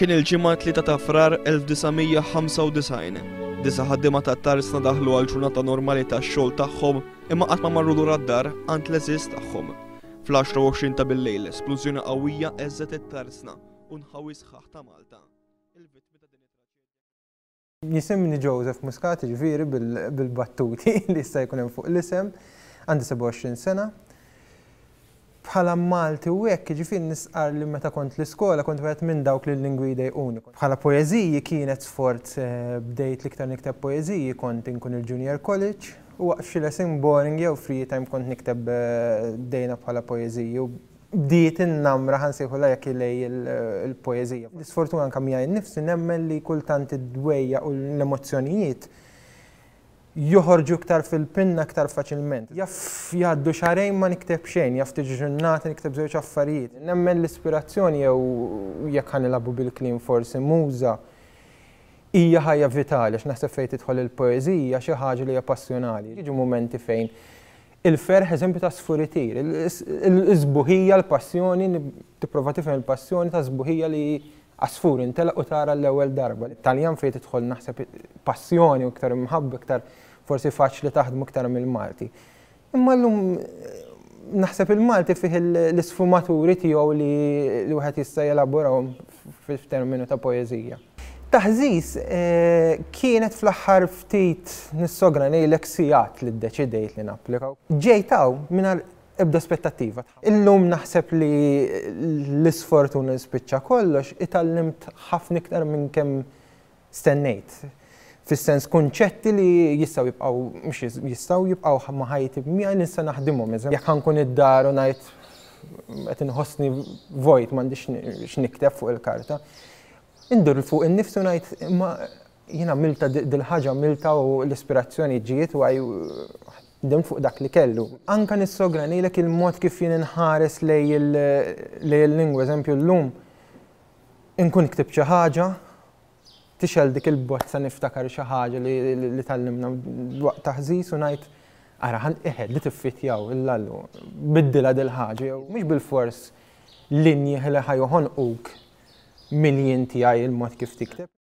Kien il-ġimgħa 3 ta' frar 1995. Disa ħaddiema ta' tarsna daħlu għal ġurnata normali ta' xogħol tagħhom imma qatt ma marru lura d-dar għand l-eżiż tagħhom. Fl-10 ta' bil-lejl, splużjoni qawwija eżet it-tarsna u nħawi sħaħ ta' Malta. Jisimni Joseph Muscat, jiġifieri bil-battuti li jista' jkun hemm fuq l-isem, għandi 27 sena. Bħala Malti u hekk, jiġifieri nistqarr li meta kont l-iskola kont wieħed minn dawk li l-lingwi jdejquni. Bħala poeżiji kienet sforz, bdejt l-iktar nikteb poeżiji kont inkun il-junior college u waqt xi lesson boring jew free time kont nikteb dejna bħala poeżiji u bdiet in-namra, ħa nsejħulha hekk, ilej il-poeżija. L-isfortuna anke miegħi nnifsi nemmen li kultant id-dwejjaq u l-emozzjonijiet joħorġu iktar fil-pinna iktar faċilment. Jaf jgħaddu xahrejn ma nikteb xejn, jaf tiġi ġurnata nikteb żewġ affarijiet. Nemmen l-ispirazzjoni jew jekk ħa nilagħbu bil-kliem forsi muża hija ħajja vitali għax naħseb fejn tidħol il-poeżija xi ħaġa li hija passjonali. Jiġu mumenti fejn Il-ferħ, eżempju ta' sfuritir, is-sbuħija, l-passjoni, tipprova tifhem il-passjoni ta' sbuħija li għasfur intelaq u tara l-ewwel darba. Taljan fejn tidħol naħseb passjoni u iktar imħabba iktar forsi faċli taħdmu iktar mill-Malti. Imma llum naħseb il-Malti fih l-isfumaturi tiegħu li wieħed jista' jelaborahom f'terminu ta' poeżija. Taħżiż, kienet fl-aħħar ftit nissogra ngħidlek sigħat li ddeċidejt li napplika. Ġejt hawn mingħajr ebda aspettattiva. Illum naħseb li l-isfortuna li spiċċa kollox, itgħallimt ħafna iktar minn kemm stennejt, fis-sens kunċetti li jistgħu jibqgħu, mhux jistgħu, jibqgħu ma' ħajti miegħi li nista' naħdimhom. Jekk ħa nkun id-dar u ngħid qed inħossni vojt m'għandix x'nikteb fuq il-karta, indur fuq innifsi u ngħid imma jien għamiltha dil-ħaġa għamiltha u l-ispirazzjoni ġiet u ħdimt fuq dak li kellu. Anke nissogra ngħidlek il-mod kif jien inħares lejn il-lingwa, eżempju llum Inkun ktibt xi ħaġa, tixgħel dik il-bozza niftakar xi ħaġa li tgħallimna waqt taħżiż u ngħid, ara ħa eħe di tiffittjaw il-lallu, biddilha dil-ħaġa jew mhux bilfors linji li ħa joħonquk mill-jien tiegħi il-mod kif tikteb.